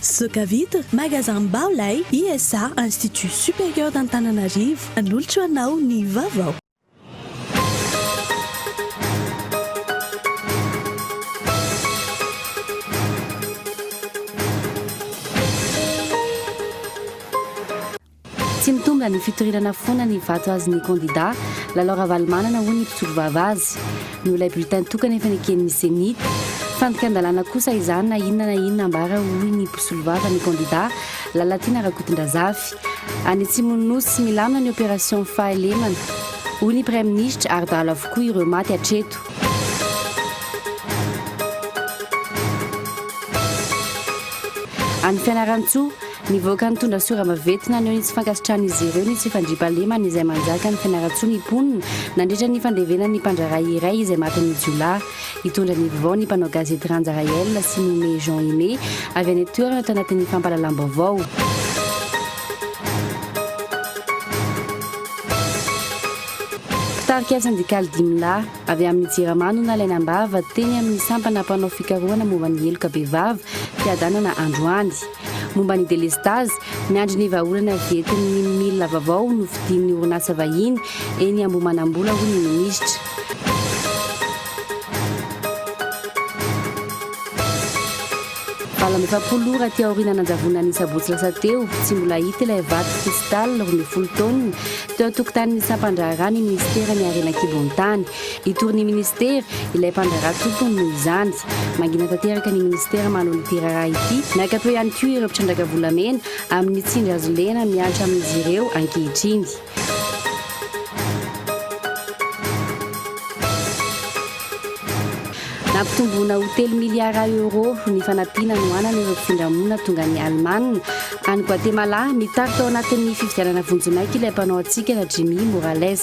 Sokavita, Magasin Bao Lay, ISA, Institut Supérieur d'Antananarivo, manolotra ho anao ny vaovao. Tsy mitondra ny fitorinana foana ny vato azon'ny kandida, Lalao Ravalomanana, hoy ny mpisolo vava azy. Noho ilay bulletin tokana efa neken'ny Ceni. Fandikan-dalàna kosa izany na inona na inona ambara, hoy ny mpisolo vava ny kandida, Lalatiana Rakotondrazafy. Any Atsimon'ny Nosy tsy milamina ny opération Fahalemana, hoy ny praiminisitra, ary dahalo avokoa ireo maty hatreto. Any Fianarantsoa, Nivoaka nitondra sorava vety naneho ny tsy fankasitrahan'izy ireo ny tsy fandriampahalemana izay manjaka ny fianarantsoa ny mponina nandritra ny fandevenan'ny mpandraharaha iray izay matin'ny jiolahy. Hitondra ny vvao ny mpanao gazety Randja Raël sy Moumet Jean Aimé avy any an-toerana tao anatin'ny fampahalalam-baovao. Mpitarika sendikaly dimy lahy avy amin'ny Jirama no nalaina am-bava teny amin'ny sampana mpanao fikarohana momba ny heloka bevava fiadanana androany. Momba ny delestazy, miandry ny vahaolana avy entin'ny milina vaovao novidian'ny orinasa vahiny eny Ambohimanambola, hoy ny minisitra. Valo amby efapolo ora aty aoriana nanjavona ny sabotsy lasa teo, tsy mbola hita ilay vato Cristal roa ambin'ny folo taonina, teo an-tokotanin'ny sampan-draharaha ny minisiteran'ny harena an-kibon'ny tany. Hitory ny minisitera ilay mpandraharaha tompony noho izany. Mangina tanteraka ny minisitera manao ity raharaha ity. Miankato ihany koa ireo mpitrandraka volamena amin'ny tsindry hazo lena mihatra amin'izy ireo ankehitriny. Nampitomboina ho telo miliara euro ny fanampiana nohanana ireo mpifindra monina tonga ny Alemana any Guatemala. Mitarika ao anatin'ny fifidianana vonjimaika ilay mpanao hatsikana Jimmy Morales.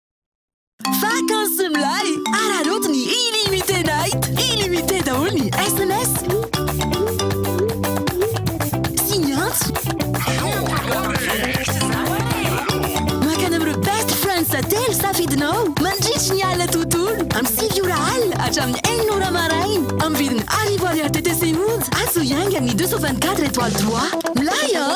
Vacances milay! Araraoty ny Illimité Night! Illimité daholo ny SMS! Sy ny antso! Makana amin'ireo best friends sa telo safidinao mandritry ny alina tontolo amin'ny sivy ora alina hatramin'ny enina ora maraina amin'ny vidiny arivo ariary TTC monja atsy ho iainga amin'ny 224 étoiles 3. Milay an!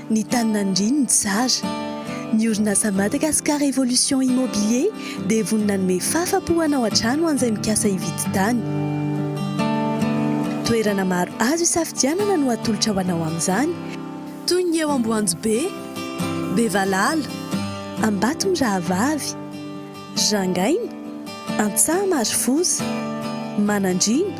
Ny tany nandrin ny tsara. Ny orinasa Madagascar Evolution Immobilier dia vonona hanome fafa po hanao hatrany ho an'izay mikasa hividy tany. Toerana maro azo isafidianana no atolotra ho anao amin'izany, toy ny eo Amboanjobe, Bevalala, Ambatomirahavavy, Rangaina, Antsaha Marofoza, Manandriana,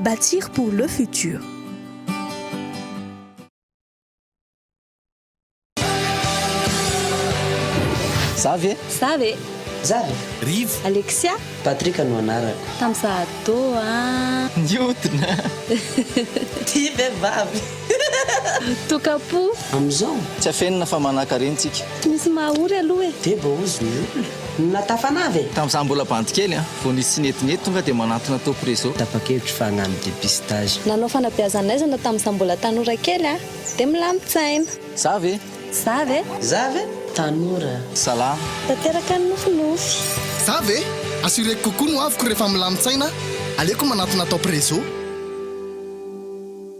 Bâtir pour le futur. Za ve? Za ve? Za ve? Rivo. Alexia. Patrick no anarako. Tamin'izaho ado a. Niodina. Tia vehivavy. Toka-po. Amin'izao. Tsy afenina fa manakarena tsika. Tsy misy maha ory aloha e. Dia baozy ny olona. Na tafanava e. Tamin'izaho mbola bandy kely an. Vao nisy tsy nety nety tonga dia manantona top reseau. Tapa-kevitra fa hagnano dépistage. Nanao fanabeazan'aizana tamin'izaho mbola tanora kely an. Dia milamin-tsaina. Za ve? Za ve? Za ve? Tanora. Zalahy. Tanteraka ny nofinofy. Za ve? Assureko kokoa ny hoaviko rehefa milamin-tsaina aho. Aleoko manantona top reseau.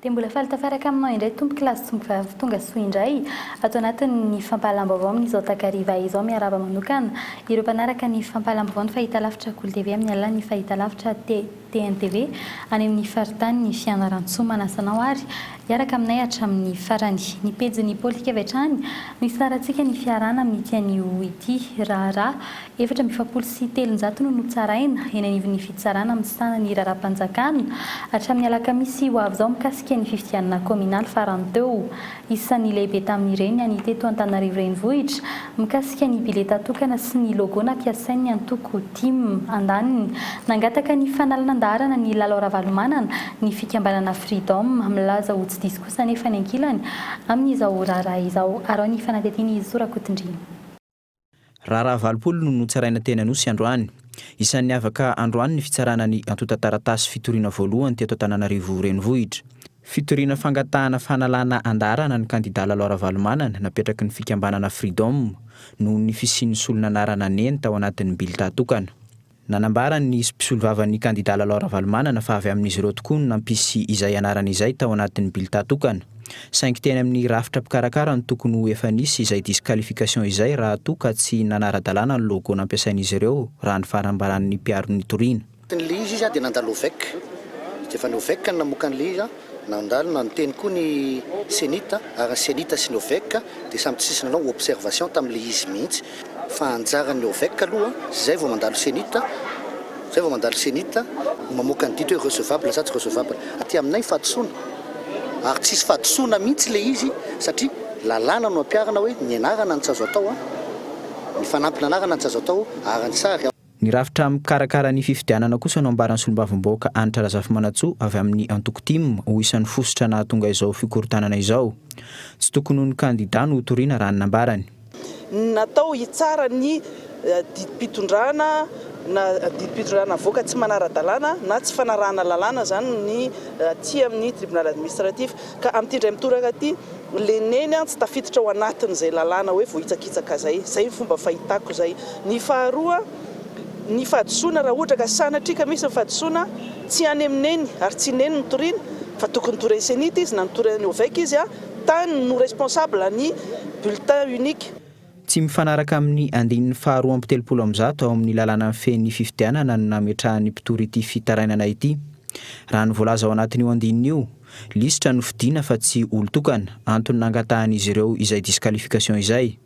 Dia mbola faly tafaraka aminao indray tompokolahy sy tompokvavy tonga soa indray ato anatin'ny fampahalam-baovao amin'izao takariva izao. Miarahaba manokana ireo mpanaraka ny fampahalam-baovao ny fahitalavitra Gol TV amin'ny alalan'ny fahitalavitra T. TNTV, any amin'ny faritanin'i Fianarantsoa manasa anao ary hiaraka aminay hatramin'ny farany. Ny pejin'ny Politika avy hatrany no isarahantsika ny fiarahana amin'ity anio ity. Raharaha efatra amby efapolo sy telonjato no notsaraina eny anivon'ny fitsarana misahana ny raharaham-panjakana hatramin'ny alakamisy ho avy izao mikasika ny fifidianana kaominaly farany teo. Isan'ny lehibe tamin'ireny ny an'ny teto Antananarivo Renivohitra, mikasika ny bileta tokana sy ny logo nampiasain'ny antoko tim. Andaniny. Nangataka ny fanalan'andaharana ny Lalao Ravalomanana, ny fikambanana Freedom, milaza ho tsy diso kosa anefa ny ankilany amin'izao raharaha izao. Araho ny fanadihadian'i Zo Rakotondriana. Raharaha valopolo no notsaraina teny Anosy androany. Isan'ny niavaka androany ny fitsarana ny antontan-taratasy fitoriana voalohany teto Antananarivo Renivohitra. Fitoriana fangatahana fanalana andaharana ny kandidà Lalao Ravalomanana napetraky ny fikambanana Freedom, noho ny fisian'ny solon'anarana neny tao anatin'ny bilta tokana. Nanambara ny mpisolovavan'ny kandidà Lalao Ravalomanana fa avy amin'izy ireo tokoa no nampisy izay anarana izay tao anatin'ny bilità tokana. Saingy teny amin'ny rafitra mpikarakara no tokony ho efa nisy izay disqualification izay raha toa ka tsy nanara-dalàna ny logo nampiasain'izy ireo, raha ny fanambaran'ny mpiaro ny toriana. Teny Lille izy dia nandalo Ovec. Dia efa ny Ovec no namoaka an'ilay izy. Nandalo na niteny koa ny Cenit ary ny Cenit sy ny OVEC dia samy tsy nisy nanao observation tamin'ilay izy mihitsy fa anjaran'ny OVEC aloha izay vao mandalo Cenit izay vao mandalo Cenit no mamoaka ny didy hoe recevable sa tsy recevable. Aty aminay fahadisoana ary tsisy fahadisoana mihitsy ilay izy satria lalàna no ampiharina hoe ny anarana no tsy azo atao, ny fanampin'anarana no tsy azo atao ary ny sary. Ny rafitra mikarakara ny fifidianana kosa no ambaran'ny solombavambahoaka Hanitra Razafimanantsoa avy amin'ny antoko tim ho isan'ny fositra nahatonga izao fikorontanana izao. Tsy tokony ho ny kandida no hotoriana raha ny nambarany. Ny natao hitsara ny didim-pitondrana na didim-pitondrana navoaka tsy manara-dalàna na tsy fanarahana lalàna izany ny aty amin'ny Tribunal Administratif ka amin'ity indray mitoraka ity, Le neny an tsy tafiditra ao anatiny zay lalàna hoe voahitsakitsaka zay, zay ny fomba fahitako zay, ny faharoa ny fahadisoana raha ohatra ka sanatria ka misy ny fahadisoana tsy any am neny ary tsy neny no toriana fa tokony torainy cenit izy na notorainy ovec izy a tany no responsable ny bulletin unique. Tsy mifanaraka amin'ny andininy faharoa amby telopolo amby zato ao amin'ny lalàna mifehy ny fifidianana no nametrahan'ny mpitory ity fitarainana ity. Raha ny voalaza ao anatin'io andininy io, Lisitra no fidiana fa tsy olon-tokana, antony nangatahan'izy ireo izay disqualification izay.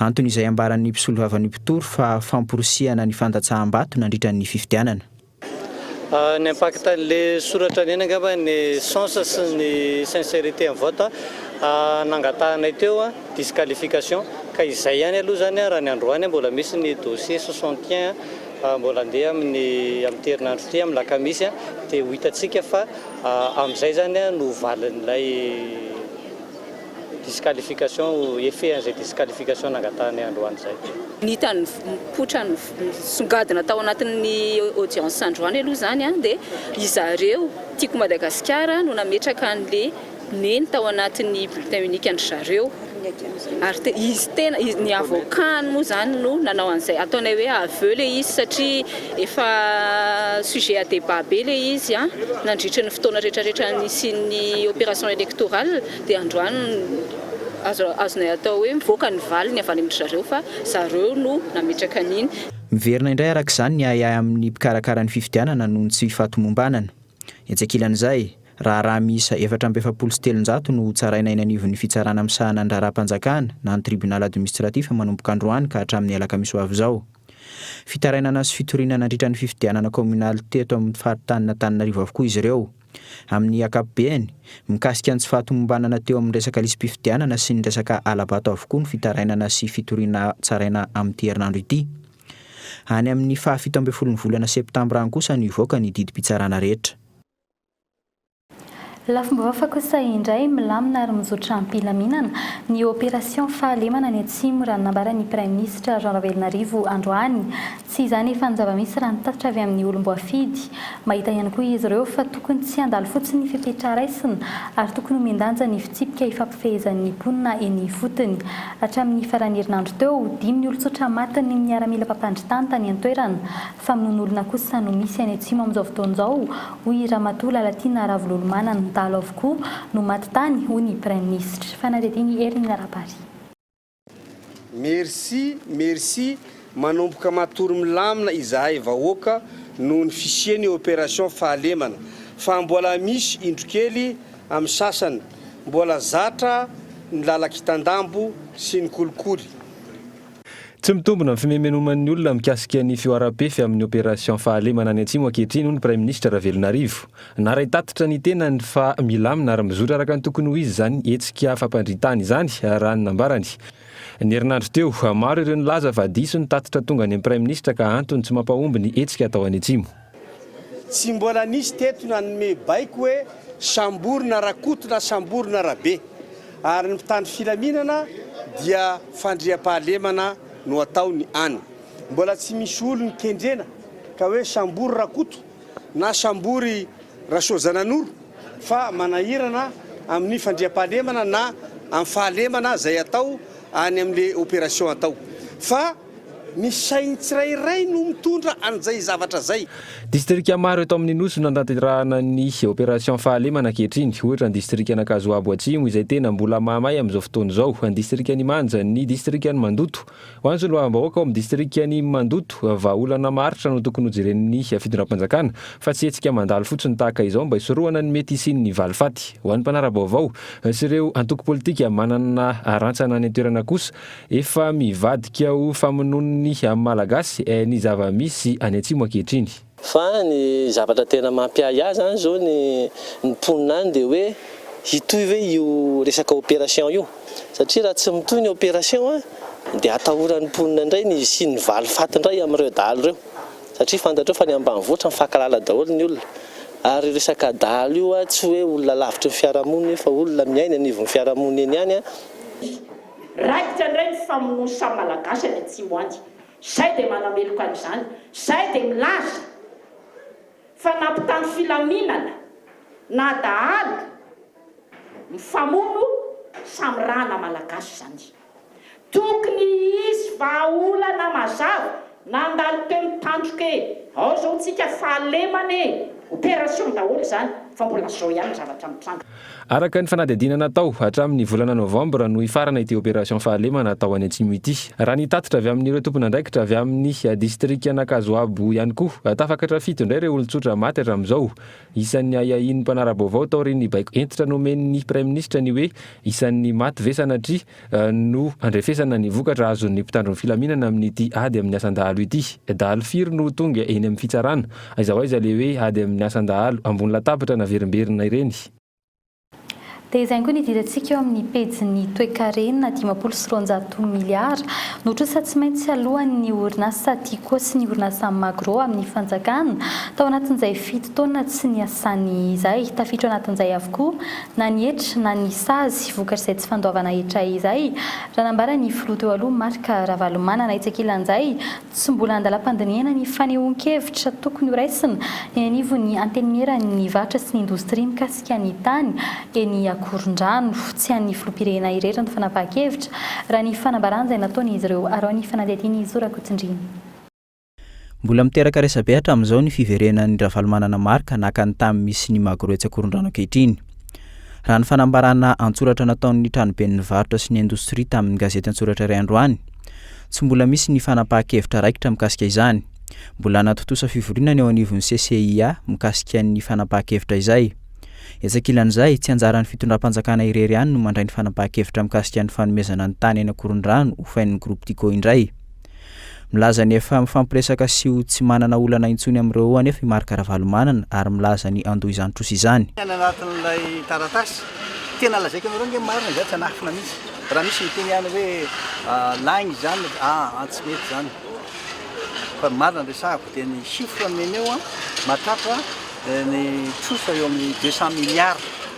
Antony izay ambaran'ny mpisolovavan'ny mpitory fa famporisihana ny fandatsaham-bato nandritra ny fifidianana. Ny impact an'le soratra neny angamba ny sens sy ny sincerité am vote nangatahanay teo disqualification ka izay ihany aloha zany raha ny androany mbola misy ny dossier soixante et un Raha mbola andeha amin'ny amin'ity herinandro ity amin'ny lakamisy dia ho hitantsika fa amin'izay izany no valin'ilay disqualification, effet an'izay disqualification nangatahanay androany izay. Ny tany mipoitra nisongadina tao anatin'ny audience androany aloha izany dia ry zareo Tiako Madagasikara no nametraka an'ilay. Neny tao anatin'ny bulletin unique an-dry zareo ary te- izy tena izy ny avocat-ny moa izany no nanao an'izay ataonay hoe aveu ilay izy satria efa sujet à débat be ilay izy an, nandritry ny fotoana rehetrarehetra nisian'ny opération électorale dia androany azo azonay atao hoe mivoaka ny valiny avy any amin-dry zareo fa zareo no nametraka an'iny. Miverina indray araka izany ny ahiahy amin'ny mpikarakara ny fifidianana noho ny tsy fahatomombanana. Etsy ankilan'izay, Raharaha miisa efatra amby efapolo sy telonjato no hotsaraina eny anivon'ny fitsarana misahana ny raharaham-panjakana na ny tribunal administratif manomboka androany ka hatramin'ny alakamisy ho avy izao. Fitarainana sy fitoriana nandritra ny fifidianana kaominaly teto amin'ny faritanin'Antananarivo avokoa izy ireo, amin'ny ankapobeny. Mikasika ny tsy fahatomombanana teo amin'ny resaka lisi-pifidianana sy ny resaka hala-bato avokoa ny fitarainana sy fitoriana tsaraina amin'ity herinandro ity. Any amin'ny fahafito ambin'ny folon'ny volana septambra any kosa no hivoaka ny didim-pitsarana rehetra. Lafim-bo hafa kosa indray, milamina ary mizotra am-pilaminana, ny opération fahalemana any Atsimo, raha ny nambaran'ny Praiminisitra Jean Ravelonarivo androany. Tsy izany efa ny zava-misy raha ny tatitra avy amin'ny olom-boafidy. Mahita ihany koa izy ireo fa tokony tsy handalo fotsiny ny fepetra raisina ary tokony homen-danja ny fitsipika ifampifehezan'ny mponina eny ifotony. Hatramin'ny faran'ny herinandro teo, dimy ny olon-tsotra matin'ny miaramila mpampandry tany tany an-toerana. Famonoan'olona kosa no misy any Atsimo amin'izao fotoana izao, hoy i Ramatoa Lalatiana Ravololomanana. Dahalo avokoa no maty tany, hoy ny Praiminisitra. Fanadihadian'i Hermine Rabary. Merci merci manomboka matory milamina izahay vahoaka noho ny fisiany operation fahalemana fa mbola misy indro kely am sasany mbola zatra ny lalakitandambo sy ny kolikoly. Tsy mitombina ny fimemenoman'ny olona mikasika ny fihoaram-pefy amin'ny Opération Fahalemana any Atsimo ankehitriny hoy ny Praiminisitra Ravelonarivo. Naray tatitra ny tenany fa milamina ary mizotra araka ny tokony ho izy izany hetsika fampandrian-tany izany raha ny nambarany. Ny herinandro teo, maro ireo nilaza fa diso ny tatitra tonga any amin'ny Praiminisitra ka antony tsy mampahomby ny hetsika atao any Atsimo. Tsy mbola nisy teto nanome baiko hoe sambory na rakoto na sambory na rabe. Ary ny mpitandro filaminana dia fandriampahalemana no ataony any. Mbola tsy misy olony kendrena ka hoe sambory rakoto na sambory rasoajananoro fa manahirana amin'ny fandriampahalemana na amin'ny fahalemana zay atao any amle operation atao fa Ny sain'ny tsirairay no mitondra an'izay zavatra izay. Distrika maro eto amin'ny Nosy no nantanterahana ny opération fahalemana ankehitriny, ohatra ny distrikan'Ankazoabo Atsimo izay tena mbola mahamay amin'izao fotoana izao, ny distrikan'Imanja, ny distrikan'i Mandoto. Ho an'ny solombavambahoaka ao amin'ny distrikan'i Mandoto, vahaolana maharitra no tokony hojeren'ny fitondram-panjakana fa tsy hetsika mandalo fotsiny tahaka izao mba hisorohana ny mety hisian'ny valifaty ho an'ny mpanara-baovao sy ireo antoko politika manana rantsana any an-toerana kosa Efa mivadika ho famonoan'ny Malagasy eh ny zava-misy any Atsimo ankehitriny. Fa ny zavatra tena mampiahy ahy zany zao ny ny mponina any dia hoe hitohy ve io resaka opération io? Satria raha tsy mitohy ny opération a dia atahoran'ny mponina indray ny hisian'ny valifaty indray amin'ireo dahalo ireo satria fantatrao fa ny ambanivohitra mifankahalala daholo ny olona ary io resaka dahalo io a tsy hoe olona lavitry ny fiarahamonina io fa olona miaina anivon'ny fiarahamonina eny ihany a Raikitra indray ny famonoan'ny samy Malagasy any Atsimo any. Izay dia manameloka an'izany. Izay dia milaza fa nampitandro filaminana na dahalo mifamono samy rahana Malagasy izany. Tokony hisy vahaolana mazava. Nandalo teo ny tandroka e! Ao zao tsika fahalemana e! Opération daholo izany fa mbola zao ihany ny zavatra mitranga. Araka ny fanadihadiana natao, hatramin'ny volana novambra no hifarana ity opération fahalemana atao any Atsimo ity. Raha ny tatitra avy amin'ireo tompon'andraikitra avy amin'ny distrikan'Ankazoabo ihany koa, tafakatra fito indray ireo olon-tsotra maty hatramin'izao. Isan'ny ahiahian'ny mpanara-baovao taorian'ny baiko hentitra nomen'ny praiminisitra ny hoe isan'ny maty ve sanatria no handrefesana ny vokatra azon'ny mpitandro ny filaminana amin'ity ady amin'ny asan-dahalo ity. Dahalo firy no tonga eny amin'ny fitsarana? Aiza ho aiza ilay hoe ady amin'ny asan-dahalo? Ambony latabatra naverimberina ireny. Dia izay ihany koa ny idirantsika eo amin'ny pejin'ny toekarena, dimampolo sy roanjato miliara no trosa tsy maintsy aloan'ny orinasa Tiko sy ny orinasa Magro amin'ny fanjakana tao anatin'izay fito taona tsy niasany izay. Tafiditra ao anatin'izay avokoa na ny hetra na ny sazy vokatr'izay tsy fandoavana hetra izay, raha nambara ny filoha teo aloha Marc Ravalomanana etsy ankilan'izay, tsy mbola andalam-pandinihana ny fanehoan-kevitra tokony horaisina eny anivon'ny Antenimieran'ny varotra sy ny indostria mikasika ny tany eny Ankorondrano. Tsy an'ny filoham-pirenena irery ny fanapahan-kevitra, raha ny fanambaran'izay nataon'izy ireo araho ny fanadihadian'i Zo Rakotonirina. Mbola miteraka resabe hatramin'izao ny fiverenan'i Ravalomanana Marc naka ny tany misy ny Magro etsy Ankorondrano ankehitriny. Raha ny fanambarana an-tsoratra nataon'ny tranoben'ny varotra sy ny indostria tamin'ny gazety an-tsoratra iray androany, tsy mbola misy ny fanapahan-kevitra raikitra mikasika izany. Mbola hanatontosa fivoriana ny eo anivon'ny CCIA mikasika ny fanapahan-kevitra izay. Etsy ankilan'izay, tsy anjaran'ny fitondram-panjakana irery ihany no mandray ny fanapahan-kevitra mikasika ny fanomezana ny tany eny Ankorondrano hofain'ny Groupe Tiko indray. Milaza ny efa mifampiresaka sy ho tsy manana olana intsony amin'ireo roa anefa i Marc Ravalomanana ary milaza ny handoa izany trosa izany. Any anatin'ilay taratasy, tena lazaiko anareo ange marina izany, tsy hanafina mihitsy. Raha misy miteny any hoe laigny izany, aa tsy mety izany. Fa ny marina no resahako dia ny chiffre nomeny eo, mahatratra ny trosa eo amin'ny deux cent milliards.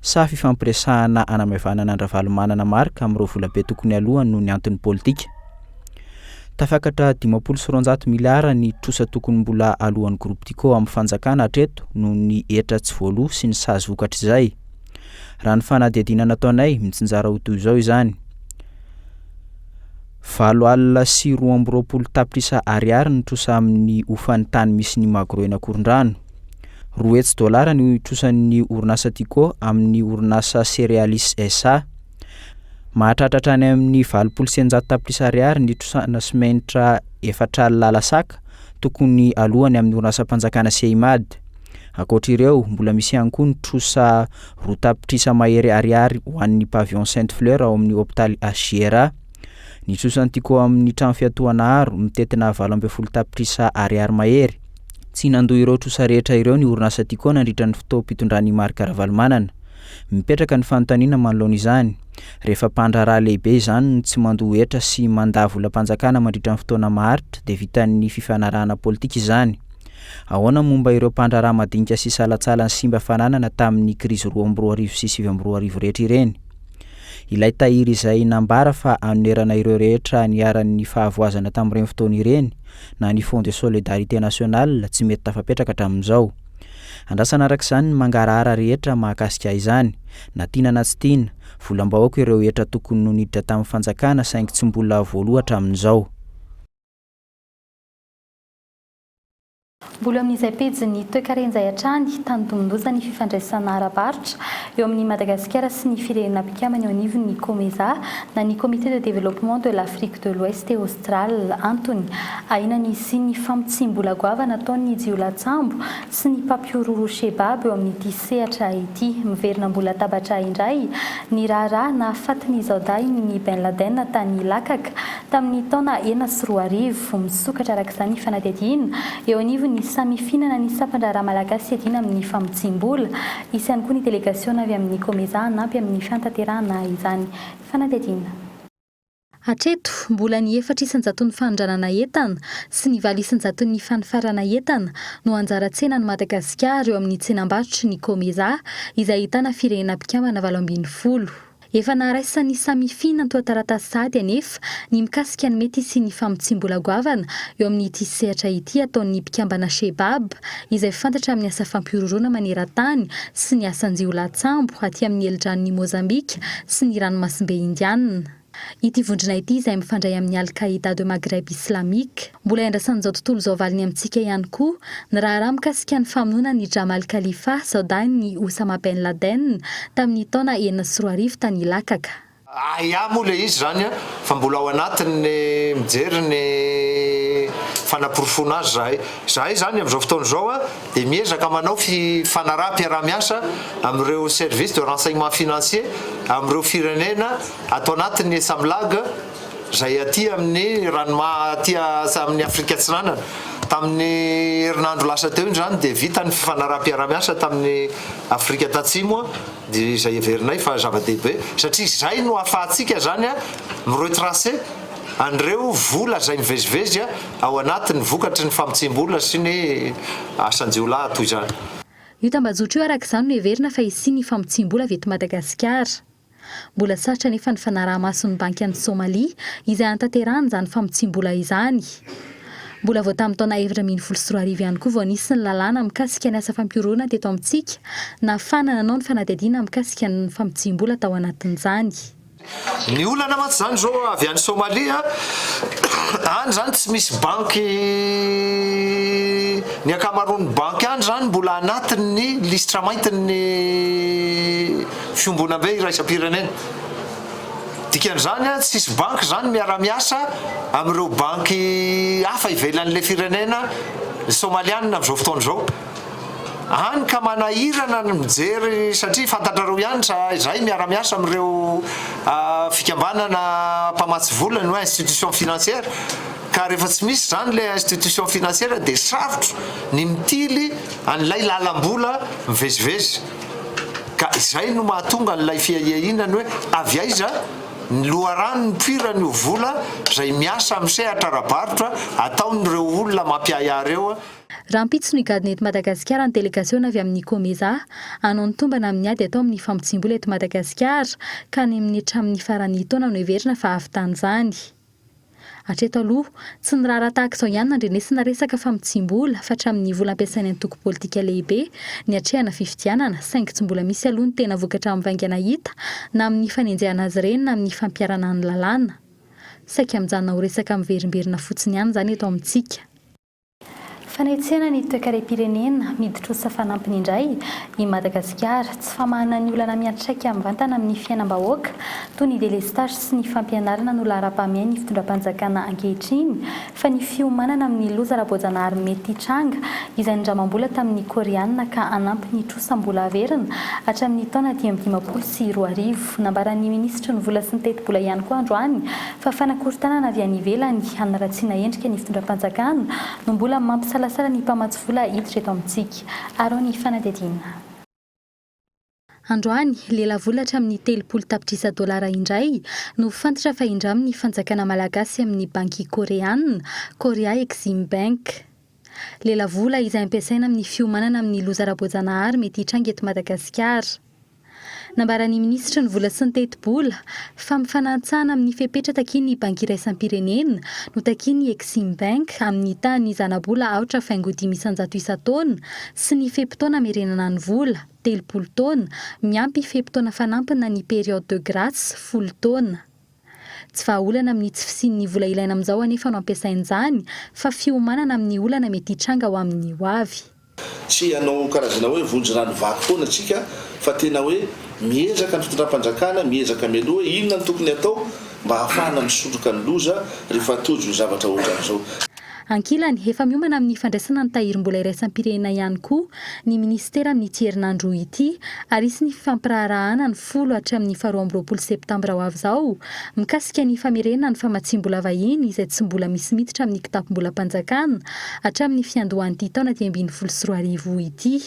sa fifampiresahana hanamaivanana an-dRavalomanana Marc amin'ireo volabe tokony halohany noho ny antony politika? Tafakatra dimampolo sy roanjato miliara ny trosa tokony mbola alohan'ny Groupe Dico amin'ny fanjakana hatreto noho ny hetra tsy voaloa sy ny sazy vokatr'izay. Raha ny fanadihadiana nataonay, mitsinjara ho toy izao izany, valo alina sy roa amby roapolo tapitrisa Ariary ny trosa amin'ny hofan'ny tany misy ny Magro eny Ankorondrano, Roa hetsy dolara no itrosan'ny orinasa Tico amin'ny orinasa Cerealis SA. Mahatratra hatrany amin'ny valopolo sy eninjato tapitrisa ariary ny itrosana simenitra efatra alina lasaka tokony aloany amin'ny orinasam-panjakana Ceimad. Ankoatra ireo, mbola misy ihany koa ny trosa roa tapitrisa mahery ariary ho an'ny Pavillon Sainte Fleur ao amin'ny hopitaly HJRA. Nitrosa ny tiko ao amin'ny trano fiatohana aro, mitentina valo ambin'ny folo tapitrisa ariary mahery. Tsy nandoa ireo trosa rehetra ireo ny orinasa Tiko nandritra ny fotoam-pitondran'i Marc Ravalomanana. Mipetraka ny fanontaniana manoloana izany. Rehefa mpandraharaha lehibe izany no tsy mandoa hetra sy mandà volam-panjakana mandritra ny fotoana maharitra dia vitan'ny fifanarahana politika izany. Ahoana momba ireo mpandraharaha madinika sy salantsala nisimba fananana tamin'ny krizy roa amby roa arivo sy sivy amby roa arivo rehetra ireny? Ilay tahiry izay nambara fa anonerana ireo rehetra niharan'ny fahavoazana tamin'ireny fotoana ireny na ny Fonds de Solidarité Nationale tsy mety tafapetraka hatramin'izao. Andrasana araka izany ny mangarahara rehetra mahakasika izany, na tiana na tsy tiana, volam-bahoaka ireo hetra tokony ho niditra tamin'ny fanjakana saingy tsy mbola voaloa hatramin'izao. Mbola amin'izay pejin'ny toekarenzay hatrany, tandindomin-doza ny fifandraisana ara-barotra eo amin'i Madagasikara sy ny firenena mpikambana eo anivon'ny Comesa na ny Comité de Développement de l'Afrique de l'Ouest et Australe. Antony, ahiana ny hisian'ny famotsiam-bola goavana ataon'ny jiolahintsambo sy ny mpampihorohoro Shebab eo amin'ity sehatra ity. Miverina ambony latabatra indray ny raharaha nahafaty ny zaodahin'i Ben Laden tany Lakaka, Tamin'ny taona enina sy roa arivo, misokatra araka izany fanadihadiana eo anivon'ny samifinana ny sampan-draharaha malagasy hiadiana amin'ny famotsiam-bola. Hisy ihany koa ny delegasiona avy amin'ny Comesa hanampy amin'ny fiantanterahana izany fanadihadiana. Hatreto, mbola ny efatra isan-jaton'ny fanondranana entana sy ny valo isan-jaton'ny fanifarana entana no anjara tsenan'i Madagasikara eo amin'ny tsenam-barotry ny Comesa, izay ahitana firenena mpikambana valo ambin'ny folo. Efa naraisan'ny Samifin antoha-taratasy sahady anefa ny mikasika ny mety hisian'ny famotsiam-bola goavana eo amin'ity sehatra ity ataon'ny mpikambana Shebab, izay fantatra amin'ny asa fampihorohoroana maneran-tany sy ny asan-jiolahy-tsambo aty amin'ny helidranon'i Mozambika sy ny Ranomasimbe Indianina. Ity vondrona ity izay mifandray amin'ny Al-Qaida de Maghreb Islamique. Mbola iandrasan'izao tontolo izao valiny amintsika ihany koa ny raharaha mikasika ny famonoana an'i Jamal Khalifa, zaodahin'i Oussama Ben Laden, tamin'ny taona enina sy roa arivo tany Ilakaka. Ahiahy moa ilay izy izany fa mbola ao anatin'ny mijery ny fanaporofoana azy izahay. Izahay izany amin'izao fotoana izao dia miezaka manao fifanaraham-piaraha-miasa amin'ireo services de renseignement financier amin'ireo firenena ato anatin'ny Esamlag, Izay aty amin'ny ranomaha aty amin'ny Afrika Atsinanana. Tamin'ny herinandro lasa teo indrany dia vita ny fifanaraham-piarahamiasa tamin'ny Afrika Tatsimo dia izay heverinay fa zava-dehibe satria izay no ahafahantsika izany mi-retracer an'ireo vola izay mivezivezy ao anatiny vokatry ny famotsiam-bola sy ny asan-jiolahy toy izany. Io tambajotra io araka izany no heverina fa hisian'ny famotsiam-bola avy eto Madagasikara. Mbola sarotra anefa ny fanaraha-mason'ny Banky an'i Somalia izay hanatanterahany izany famotsiam-bola izany. Mbola vao tamin'ny taona efatra ambin'ny folo sy roa arivo ihany koa vao nisy ny lalàna mikasika ny asa fampihoroana teto amintsika nahafahana nanao ny fanadihadiana mikasika ny famotsiam-bola tao anatin'izany. Ny olana mantsy izany izao avy any Somalia, any izany tsy misy banky, ny ankamaroan'ny banky any izany mbola anatin'ny lisitra maintin'ny. Fiombonambe iraisam-pirenena. Dikan'izany, tsy hisy banky izany miara-miasa amin'ireo banky hafa ivelan'ilay firenena Somaliana amin'izao fotoana izao. Hany ka manahirana ny mijery satria fantatrareo ihany sa izay miara-miasa amin'ireo fikambanana mpamatsy vola na institution financière ka rehefa tsy misy izany ilay institution financière dia sarotra ny mitily an'ilay lalam-bola mivezivezy. Ka izay no mahatonga an'ilay fiahiahiana ny hoe avy aiza ny loharano nipoirany io vola izay miasa amin'ny sehatra ara-barotra ataon'ireo olona mampiahiahy ireo, Rahampitso ny gadona eto Madagasikara ny delegasiona avy amin'ny Comesa hanao ny tombana amin'ny ady atao amin'ny famotsiam-bola eto Madagasikara ka any amin'ny hatramin'ny faran'ny taona no heverina fa hahavitan'izany. Hatreto aloha, tsy niraharaha tahaka izao ihany nandrenesina resaka famotsiam-bola fatramin'ny vola ampiasain'ny antoko politika lehibe niatrehana fifidianana saingy tsy mbola misy aloha ny tena vokatra mivaingana hita na amin'ny fanenjehana azy ireny na amin'ny fampiharana ny lalàna. Saika mijanona ho resaka miverimberina fotsiny ihany izany eto amintsika. Fanetsena ny toekarem-pirenena, miditrosa fanampiny indray i Madagasikara, tsy famahana ny olana miantraika mivantana amin'ny fiainam-bahoaka toy ny delestage sy ny fampianarana no laharam-pahamehany fitondram-panjakana ankehitriny fa ny fiomanana amin'ny loza ara-boajanahary mety hitranga izay nindramam-bola tamin'ny Koreana ka hanampy ny trosa mbola haverina hatramin'ny taona dimy amby dimampolo sy roa arivo. Nambaran'ny minisitry ny vola sy ny tetibola ihany koa androany fa fanakorontanana avy any ivelany hanaratsiana endrika ny fitondram-panjakana no mbola mampisalasala ny mpamatsy vola hiditra eto amintsika. Araho ny fanadihadiana. Androany, lelavola hatramin'ny telopolo tapitrisa dolara indray no fantatra fa indramin'ny fanjakana malagasy amin'ny banky koreana, Korea Exim Bank. Lelavola izay ampiasaina amin'ny fiomanana amin'ny loza ara-boajanahary mety hitranga eto Madagasikara. Nambaran'ny minisitry ny Vola sy ny Tetibola, fa mifanantsana amin'ny fepetra takian'ny Banky Iraisam-pirenena no takian'ny Eximbank amin'ny tahan'ny zanabola aotra faingo dimy isan-jato isan-taona sy ny fe-potoana amerenana ny vola, telopolo taona, miampy fe-potoana fanampina ny période de grâce, folo taona. Tsy vahaolana amin'ny tsy fisian'ny vola ilaina amin'izao anefa no ampiasain'izany fa fiomanana amin'ny olana mety hitranga ho amin'ny hoavy. Tsy hanao karazana hoe vonjirano vaky foana isika fa tena hoe miezaka ny fitondram-panjakana miezaka mialoha hoe inona no tokony hatao mba hahafahana misondroka ny loza rehefa tojo ny zavatra ohatran'izao. Ankilany, efa miomana amin'ny fandraisana ny tahirim-bola iraisam-pirenena ihany koa ny minisitera amin'ity herinandro roa ity ary hisy ny fifampiraharahana ny folo hatramin'ny faharoa amby roapolo septambra ho avy izao, mikasika ny famerena ny famatsiam-bola vahiny izay tsy mbola misy miditra amin'ny kitapom-bolam-panjakana hatramin'ny fiandohan'ity taona dimy ambin'ny folo sy roa arivo ity.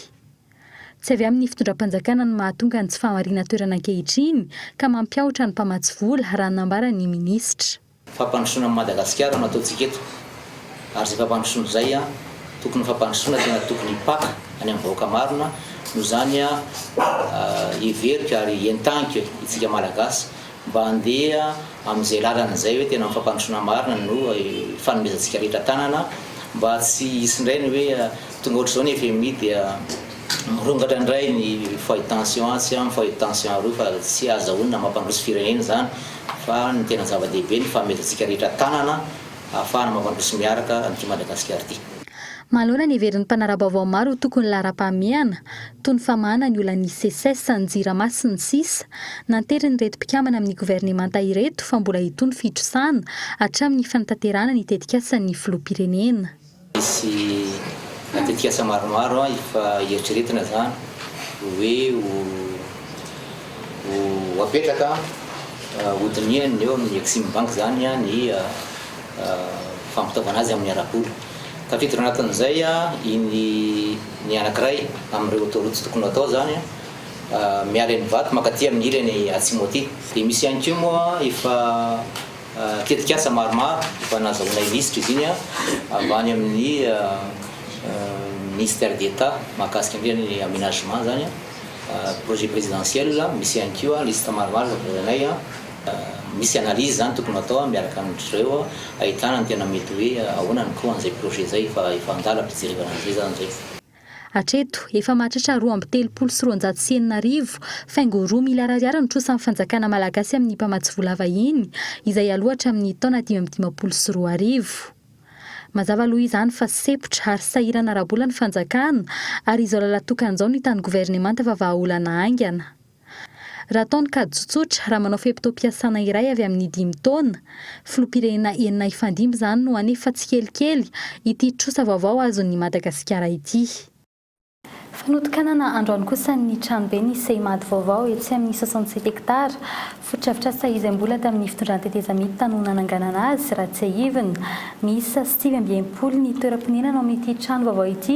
Tsy avy amin'ny fitondram-panjakana ny mahatonga ny tsy fahamarinan-toerana ankehitriny ka mampiahotra ny mpamatsy vola, raha ny nambaran'ny minisitra. Fampandrosoana an'i Madagasikara no ataontsika eto ary izay fampandrosoana izay tokony ho fampandrosoana tena tokony hipaka any amin'ny vahoaka marina noho izany heveriko ary entaniko itsika Malagasy mba handeha amin'izay lalana izay hoe tena fampandrosoana marina no ifanomezantsika rehetra tanana mba tsy hisy indray ny hoe tonga ohatr'izao ny fmi dia mirongatra indray ny foyer de tension atsy, ny foyer de tension aroa fa tsy azahoana mampandroso firenena izany. fa ny tena zava-dehibe ny fahamerezatsika rehetra tanana ahafahana mampandroso sy miaraka an'ity Madagasikara ity. Manoloana ny heverin'ny mpanara-baovao maro ho tokon'ny laharam-pahamehana, toy ny famahana ny olan'ny Seces, ny Jirama sy ny sisa, nanterin'ireto mpikambana amin'ny governemanta ireto fa mbola hitohy ny fitrosana hatramin'ny fanatanterahana ny tetikasan'ny filoham-pirenena. Misy tetikasa maromaro efa eritreretina izany hoe ho apetraka, hodinihany eo amin'ny Eximbank izany ny fampitaovana azy amin'ny ara-bola. Tafiditra ao anatin'izay iny ny anankiray amin'ireo autoroutes tokony ho atao izany, miala eny Ivato mankaty amin'ny ilany atsimo aty. Dia misy ihany koa moa efa. Tetikasa maromaro efa nazahoanay lisitra izy iny avy any amin'ny Ministère d'Etat mahakasika indrindra ny Aménagement izany, Projet Présidentiel, misy ihany koa lisitra maromaro efa voazainay, misy analyse izany tokony hatao miaraka amin-dry zareo ahitana ny tena mety hoe ahoana ny ko an'izay projet izay efa an-dalam-pijerevana an'izay izany izay. Hatreto, efa mahatratra roa amby telopolo sy roanjato sy enina arivo, faingo roa miliara ariary no trosan'ny fanjakana malagasy amin'ny mpamatsy vola vahiny, izay aloha hatramin'ny taona dimy amby dimampolo sy roa arivo. Mazava aloha izany fa sepotra ary sahirana ara-bola ny fanjakana ary izao lalan-tokana izao no hitan'ny governemanta fa vahaolana haingana. Raha atao ny kajy tsotsotra, raha manao fe-potoam-piasana iray avy amin'ny dimy taona, filoham-pirenena enina hifandimby izany no hanefa tsikelikely ity trosa vaovao azon'i Madagasikara ity. Fanotokanana androany kosa ny tranoben'ny Seimad vaovao etsy amin'ny soixante-sept hectares, Fotodrafitrasa izay mbola tamin'ny fitondran-tetezamita tany no nananganana azy, raha tsiahivina. Miisa sivy amby enimpolo ny toeram-ponenana ao amin'ity trano vaovao ity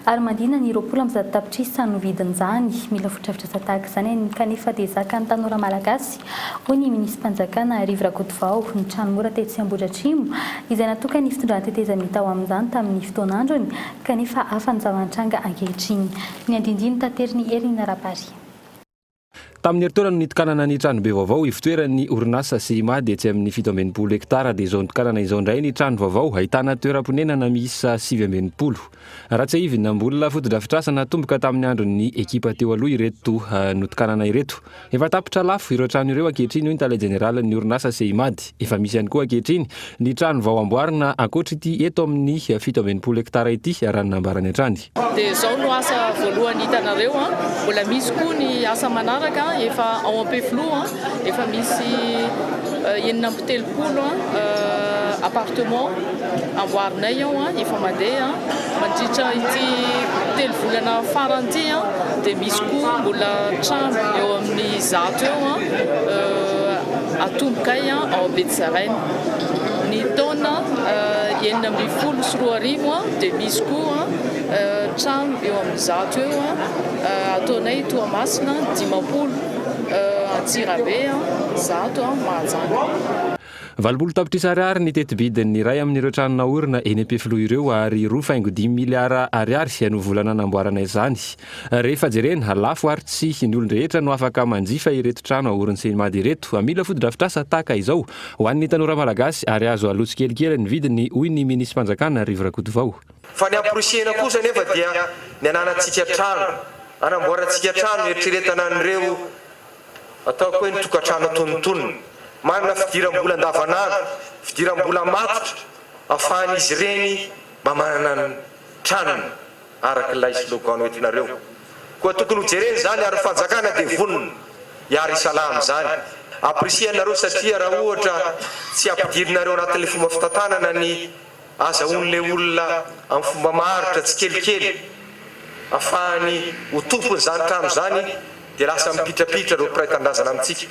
ary mandina ny roapolo amby zato tapitrisa no vidin'izany. Mila fotodrafitrasa tahaka izany kanefa dia zakan'ny tanora malagasy, hoy ny minisi-panjakana Arivo Rakotovao. Ny trano mora tetsy Ambohidratrimo, izay natokan'ny fitondran-tetezamita ho amin'izany tamin'ny fotoan'androny kanefa hafa ny zava-nitranga ankehitriny. Ny andinindiny taterin'i Hermina Rabary. Tamin'ny herintaona no nitokanana ny tranobe vaovao ivotoeran'ny orinasa CIMAD etsy amin'ny fito amby enimpolo hektara dia izao nitokanana izao indray ny trano vaovao ahitana toeram-ponenana miisa sivy amby enimpolo. Raha tsiahivina, mbola fotodrafitrasa natomboka tamin'ny andron'ny ekipa teo aloha ireto notokanana ireto. Efa tapitra lafo ireo trano ireo ankehitriny hoy ny tale jeneralin'ny orinasa CIMAD. Efa misy ihany koa ankehitriny Ny trano vao amboarina ankoatra ity eto amin'ny fito amby enimpolo hektara ity, raha ny nambarany hatrany. Dia izao no asa voalohany hitanareo, mbola misy koa ny asa manaraka efa ao Ampefiloha, efa misy enina amby telopolo appartement amboarinay ao efa mandeha, mandritra ity telo volana farany ity dia misy koa mbola trano eo amin'ny zato eo. Atomboka ahy ao Betsaraina. Ny taona enina ambin'ny folo sy roa arivo dia misy koa trano eo amin'ny zato eo ataonay Toamasina, dimampolo Antsirabe, zato Mahajanga. Valopolo tapitrisa ariary ny tetibidin'ny iray amin'ireo trano naorina eny Ampefiloha ireo ary roa faingo dimy miliara ariary no vola nanamboarana izany. Rehefa jerena, lafo ary tsy ny olon-drehetra no afaka manjifa ireto trano aorin'ny CNMAD ireto. Mila fotodrafitrasa tahaka izao ho an'ny tanora malagasy ary azo aloa tsikelikely ny vidiny, hoy ny minisi-panjakana Rivo Rakotovao. Fa ny amporisihina kosa anefa dia ny ananantsika trano, anamboarantsika trano hieritreretana an'ireo ataoko hoe ny tokantrano antonintoniny. Manana fidiram-bola andavanandro, fidiram-bola matotra afahan'izy ireny mba manana ny tranony. araka ilay slogan noentinareo. Koa tokony ho jerena izany ary ny fanjakana dia vonona hiara hisalahy amin'izany. Apprecienareo satria raha ohatra tsy ampidirinareo anatin'ilay fomba fitantanana ny azahoan'ilay olona amin'ny fomba maharitra tsikelikely afahany ho tompon'izany trano izany dia lasa mipitrapitra ireo mpiray tanindrazana amintsika.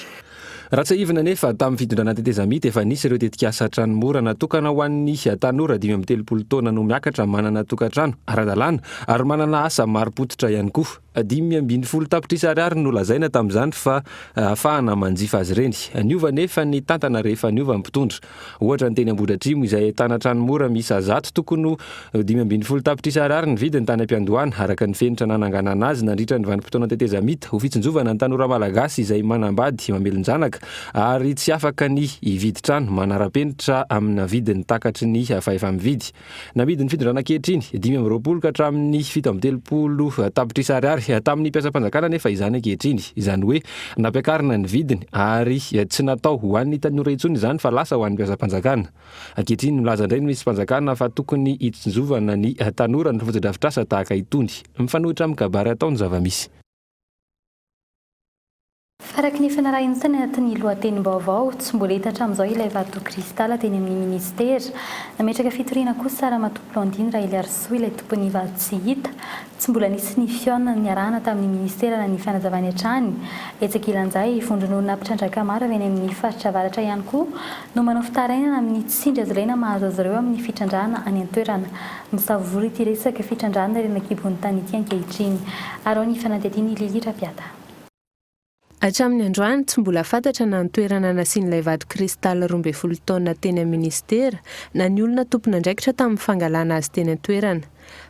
Raha tsiahivina anefa, tamin'ny fitondranà tetezamita, efa nisy ireo tetikasa trano mora natokana ho an'ny tanora dimy amby telopolo taona no miakatra manana tokantrano ara-dalàna ary manana asa marim-pototra ihany koa. Dimy ambin'ny folo tapitrisa ariary no lazaina tamin'izany fa ahafahana manjifa azy ireny. Niova anefa ny tantana rehefa niova ny mpitondra. Ohatra, ny teny Ambohidratrimo, izay ahitana trano mora miisa zato tokony ho dimy ambin'ny folo tapitrisa Ar ny vidiny tany am-piandohana, araka ny fenitra nananganana azy nandritra ny vanim-potoana tetezamita, ho fitsinjovana ny tanora Malagasy izay manambady mamelon-janaka ary tsy afaka ny hividy trano manara-penitra amina vidiny takatry ny fahefa-mividy. Namidin'ny fitondrana ankehitriny, dimy amby roapolo ka hatramin'ny fito amby telopolo tapitrisa ariary tamin'ny mpiasam-panjakana anefa izany ankehitriny. Izany hoe nampiakarina ny vidiny ary tsy natao ho an'ny tanora intsony izany fa lasa ho an'ny mpiasam-panjakana. Ankehitriny milaza indray ny minism-panjakana fa tokony hitsinjovana ny tanora ny fotodrafitrasa tahaka itony. Mifanohitra amin'ny kabary atao ny zava-misy. Araka ny efa narahina tany anatin'ny lohatenim-baovao, tsy mbola hita hatramin'izao ilay vato kristal teny amin'ny minisitera. Nametraka fitoriana kosa Ramatoa Blandine Raheliarisoa ilay tompon'ny vato tsy hita. Tsy mbola nisy ny fihaonana niarahana tamin'ny minisitera na ny fanazavany hatrany. Etsy ankilan'izay, vondron'olona mpitrandraka maro avy any amin'ny faritra avaratra ihany koa no manao fitarainana amin'ny tsindry hazavaina mahazo azy ireo amin'ny fitrandrahana any an-toerana. Misavory ity resaka fitrandrahana ireny an-kibon'ny tany ity ankehitriny. Araho ny fanadihadian'i Lily Rapiata. Hatramin'ny androany, tsy mbola fantatra na ny toerana nasian'ilay vato cristal roa ambin'ny folo taonina teny amin'ny minisitera na ny olona tompon'andraikitra tamin'ny fangalana azy teny an-toerana.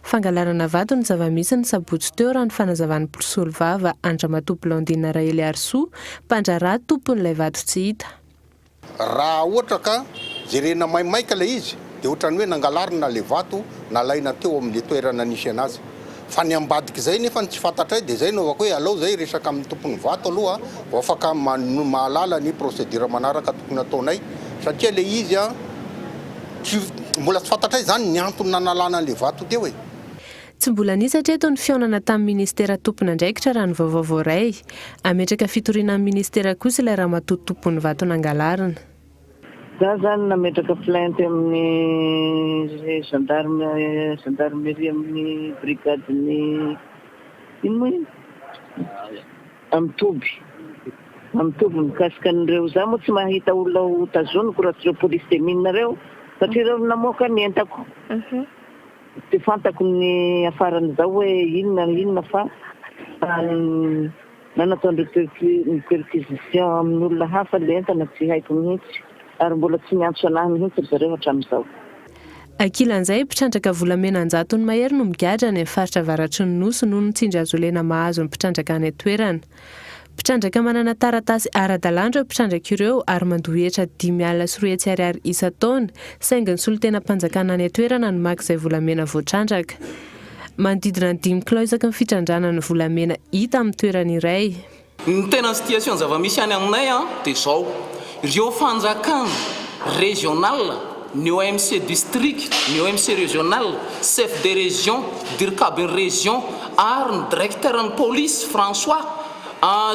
Fangalarana vato ny zava-misy ny sabotsy teo raha ny fanazavan'ny mpisolovava an-dRamatoa Blandine Raheliharisoa, mpandraharaha tompon'ilay vato tsy hita. Raha ohatra ka jerena maimaika ilay izy dia ohatran'ny hoe nangalarina ilay vato nalaina teo amin'ny toerana nisy anazy. Fa ny ambadik'izay nefa no tsy fantatray dia izay no havaiko hoe alao izay hiresaka amin'ny tompon'ny vato aloha vao afaka mahalala ny procédure manaraka tokony hataonay satria ilay izy tsy mbola tsy fantatray izany ny antony nanalana an'ilay vato teo e. Tsy mbola nisy hatreto ny fihaonana tamin'ny minisitera tompon'andraikitra raha ny vaovao voaray. Hametraka fitoriana amin'ny minisitera kosa ilay ramatoa tompon'ny vato nangalarina. Za zany nametraka plainte amin'ny gendarme gendarmerie amin'ny brigadin'ny ino moa iny? Amin'ny toby. Amin'ny toby mikasika an'ireo. Za moa tsy mahita olona ho tazoniko raha tsy ireo police de mine ireo satria ireo no namoaka ny entako. Tsy fantako ny hiafaran'izao hoe inona no inona fa na nataondreo perquisition amin'olona hafa le entana tsy haiko mihitsy ary mbola tsy niantso anahy mihitsy ry zareo hatramin'izao. Ankilan'izay, mpitrandraka volamena an-jatony mahery no migadra any amin'ny faritra avaratry ny Nosy noho ny tsindry hazolena mahazo ny mpitrandraka any an-toerana. Mpitrandraka manana taratasy ara-dalàna ireo mpitrandraka ireo ary mandoa hetra dimy alina sy roa hetsy ariary isan-taona, saingy ny solontenam-panjakana any an-toerana no maka izay volamena voatrandraka. Manodidina ny dimy kilao isaky ny fitrandrahana ny volamena hita amin'ny toerana iray. Ny tena situation zava-misy any aminay dia izao. Ireo fanjakana rezionala, ny OMC distrika, ny OMC rezionala, chef de région, dirikabin'ny rezion ary ny direkteran'ny polisy, François,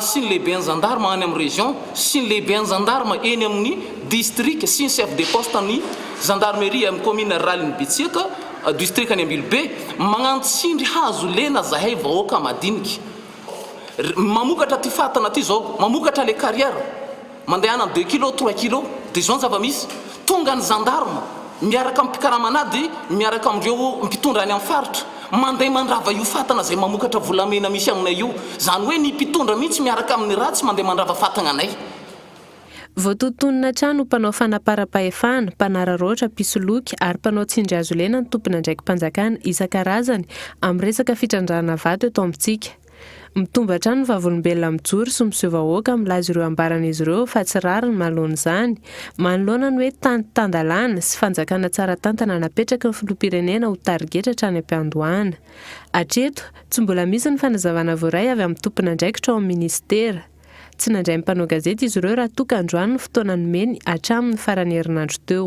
sy ny lehiben'ny zandarma any amin'ny rezion sy ny lehiben'ny zandarma eny amin'ny distrika sy ny chef de poste ny zandarmeria amin'ny kaominina ruralin'ny Betsiaka, distrikan'i Ambilobe, magnano tsindry hazo lena zahay vahoaka madinika mamokatra ty fatana ty zao, mamokatra le carrière. Mandehana ny deux kilos, trois kilos, dia izao ny zava-misy, tonga ny zandarma miaraka amin'ny mpikaraman'ady, miaraka amin'ireo mpitondra any amin'ny faritra, mandeha mandrava io fatana izay mamokatra volamena misy aminay io, izany hoe ny mpitondra mihitsy miaraka amin'ny ratsy mandeha mandrava fatagna anay. Voatotonina hatrany ho mpanao fanaparam-pahefana, mpanararaotra, mpisoloky ary mpanao tsindry hazolena ny tompon'andraiki-panjakana isan-karazany amin'ny resaka fitrandrahana vato eto amintsika. Mitombo hatrany ny vavolombelona mijoro sy miseho vahoaka milaza ireo ambaran'izy ireo fa tsy rariny manoloana izany. Manoloana ny hoe tany tan-dalàna sy fanjakana tsara tantana napetraky ny filoham-pirenena ho tarigetra hatrany am-piandohana. Hatreto, tsy mbola misy ny fanazavana voaray avy amin'ny tompon'andraikitra ao amin'ny minisitera. Tsy nandray ny mpanao gazety izy ireo raha toa ka androany ny fotoana nomeny hatramin'ny faran'ny herinandro teo.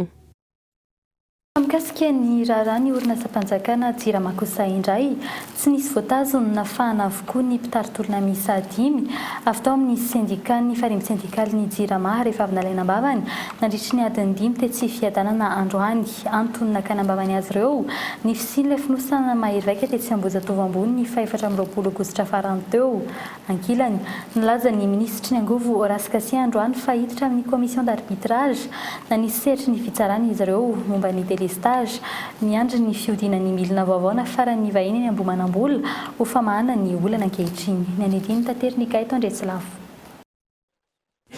Raha mikasika ny raharaha ny orinasam-panjakana Jirama kosa indray, tsy nisy voatazo ny nafahana avokoa ny mpitari-tolona miisa dimy avy tao amin'ny sendikàn'ny Farimby Sendikalin'ny Jirama rehefa avy nalaina am-bavany nandritry ny adiny dimy tetsy Fiadanana androany. Antony nakana am-bavany azy ireo, ny fisian'ilay fonosana mahery vaika tetsy Ambohijatovo Ambony ny fahefatra amby roapolo Aogositra farany teo. Ankilany, nilaza ny minisitry ny Angovo Horace Kasia androany fa hiditra amin'ny commission d'arbitrage na ny sehatry ny fitsarana izy ireo momba ny délestage miandry ny fihodinan'ny milina vaovao nafaran'ny vahiny any Ambohimanambola ho famahana ny olana ankehitriny. Ny andinindininy tateriny Gaëtan Andriatsilavo.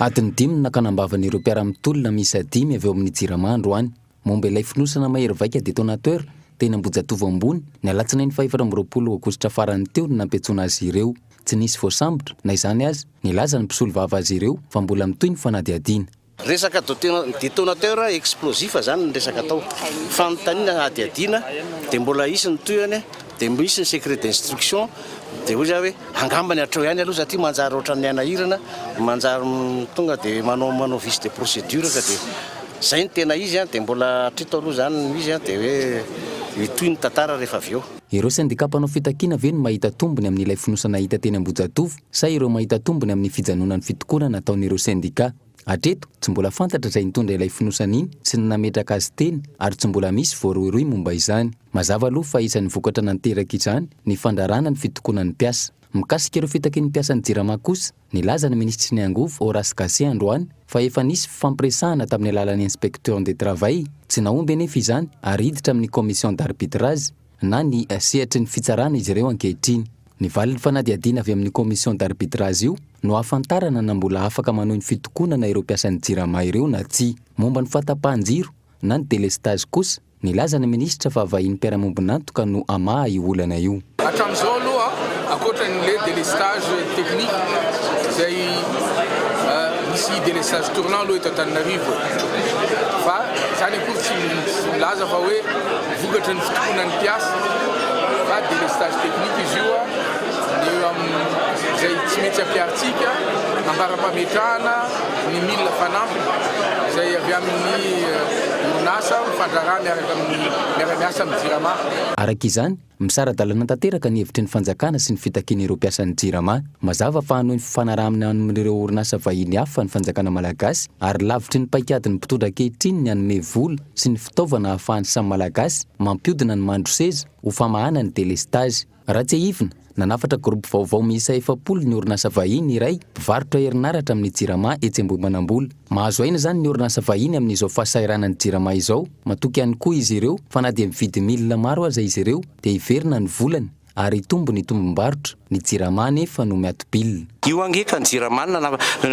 Adiny dimy no nakanam-bavan'ireo mpiara-mitolona miisa dimy avy ao amin'ny Jirama androany, momba ilay fonosana mahery vaika detonateur, teny Ambohijatovo Ambony, ny alatsinainy fahefatra amby roapolo aogositra farany teo no nampiantsoana azy ireo. Tsy nisy voasambotra, na izany aza, nilaza ny mpisolovava azy ireo fa mbola mitohy ny fanadihadiana. Resaka detonateur explosif zany ny resaka atao. Fanontaniana hadihadiana dia mbola hisy ny tohiny dia misy ny secret d'instruction dia hoy za hoe angambany hatreo ihany aloha satria manjary ohatran'ny hanahirana manjary tonga dia manao manao vice de procédure ka dia zay ny tena izy an dia mbola hatrito aloha zany no izy an dia hoe hitohy ny tantara rehefa avy eo. Ireo sendika mpanao fitakiana ve no mahita tombony amin'ilay fonosana hita teny Ambohijatovo? sa ireo mahita tombony amin'ny fijanonan'ny fitokonana ataon'ireo sendika. Hatreto, tsy mbola fantatra izay nitondra ilay fonosana iny sy ny nametraka azy teny ary tsy mbola misy voarohirohy momba izany. Mazava aloha fa isan'ny vokatra nanteraka izany ny fandraràna ny fitokonan'ny mpiasa. Mikasika ireo fitaky ny mpiasan'ny Jirama kosa, nilaza ny minisitry ny angovo Horace Gacé androany fa efa nisy fifampiresahana tamin'ny alalan'ny Inspection de Travail, tsy nahomby anefa izany ary hiditra amin'ny Commission d'arbitrage. na ny sehatry ny fitsarana izy ireo ankehitriny. Ny valin'ny fanadihadiana avy amin'ny commission d'arbitrage io no ahafantarana na mbola afaka manohy ny fitokonana ireo mpiasan'ny Jirama ireo na tsia. Momba ny fahatapahan-jiro na ny délestage kosa, nilaza ny minisitra fa vahiny mpiara-miombon'antoka no hamaha io olana io. Hatramin'izao aloha, ankoatra an'ilay délestage technique izay misy délestage tournant aloha eto Antananarivo fa izany akory tsy milaza fa hoe. Vokatry ny fitokonan'ny mpiasa, pas de lestage technique izy io, dia eo amin'izay tsy mety ampiharintsika, ambara-pametrahana ny milina fanampiny izay avy amin'ny orinasa mifandraharaha miaraka amin'ny miara-miasa amin'ny Jirama. Araka izany, misara-dalana tanteraka ny hevitry ny fanjakana sy ny fitakian'ireo mpiasan'ny Jirama. Mazava fa hanohy ny fifanarahana amin'ireo orinasa vahiny hafa ny fanjakana malagasy ary lavitry ny paikadin'ny mpitondra ankehitriny ny hanome vola, sy ny fitaovana ahafahan'ny samy Malagasy mampiodina ny mandroseza ho famahana ny delestazy. Raha tsiahivina, nanafatra groupe vaovao miisa efapolo ny orinasa vahiny iray mpivarotra herinaratra amin'ny Jirama etsy Ambohimanambola. Mahazo aina izany ny orinasa vahiny amin'izao fahasahiranan'ny Jirama izao. Matoky ihany koa izy ireo fa na dia mividy milina maro aza izy ireo dia hiverina ny volany. ary hitombo ny tombom-barotra, ny Jirama anefa no miato-bilina. Io ange ka ny Jirama no